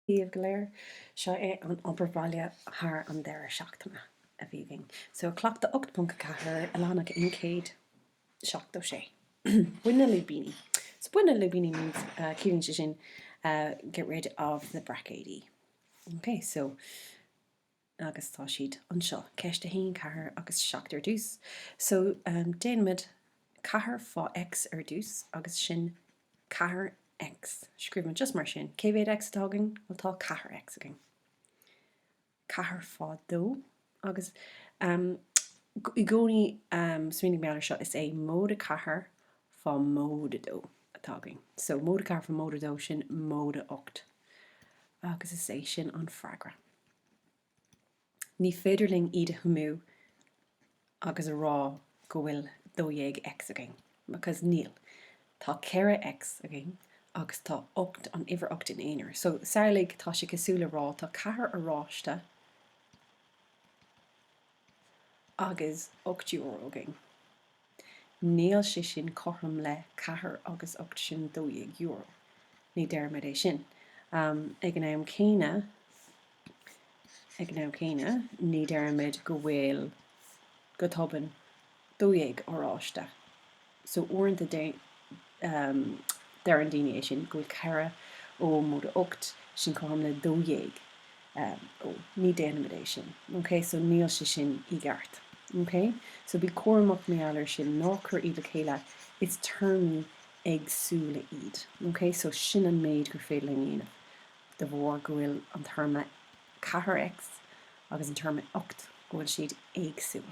díobh go léir. Seo é an obair bhaile thar an deireadh seachtaine a bhí againn. So cleachtadh 8.4 i leathanach 176. Bain na lúibíní. So bain na lúibíní ciallaíonn sé sin get rid of the braicéidí. Okay, so. Agus tá siad anseo, ceist a haon, ceathair agus seacht ar dtús. So, déanaimid ceathair fá X ar dtús agus sin ceathair X. Scríobhaimid just mar sin. Cé mhéad X atá againn? Tá ceathair X againn. Ceathair fá dó agus i gcónaí smaoinigh mar gheall ar seo, is é móide ceathair fá móide dó atá againn. So, móide ceathair fá móide dó, sin móide ocht. Agus is é sin an freagra. Ní féidir linn iad a shuimiú agus a rá go bhfuil 12X againn, because níl. Tá 4X againn agus tá 8, an uimhir 8 ina aonar. So, samhlaigh, tá sé cosúil le rá, tá ceathair oráiste, agus ocht euro againn. Níl sé sin cothrom le ceathair agus ocht sin dó dhéag euro. Ní deirimid é sin. Ag an am céanna, ag an am céanna, ní deirimid go bhfuil, go tobann, 12 oráiste. So uaireanta deireann daoine é sin go bhfuil 4 ó móide 8 sin cothrom le 12 ó. Ní déanaimid é sin. Ok so níl sé sin i gceart. Ok so bí cúramach mar gheall ar sin ná cuir iad le chéile is téarmaí éagsúla iad. Ok so sin an méid gur féidir linn a dhéanamh de bharr go bhfuil an téarma 4 X agus an téarma 8 go bhfuil siad éagsúil.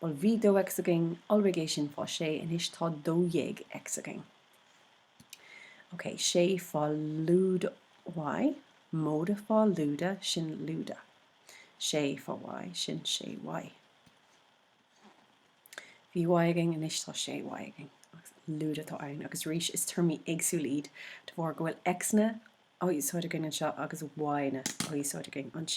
Bhuel, bhí dó x againn iolraigh é sin fá sé, anois tá dó dhéag x againn. OK, sé fá lúide y, móide fá lúide, sin lúide. Sé fá y, sin sé y. Bhí y againn, anois tá sé y againn. Lúide atá ann. Agus arís, is téarmaí éagsúla iad de bharr go bhfuil x-anna á úsáid againn anseo agus y-anna á úsáid againn anseo.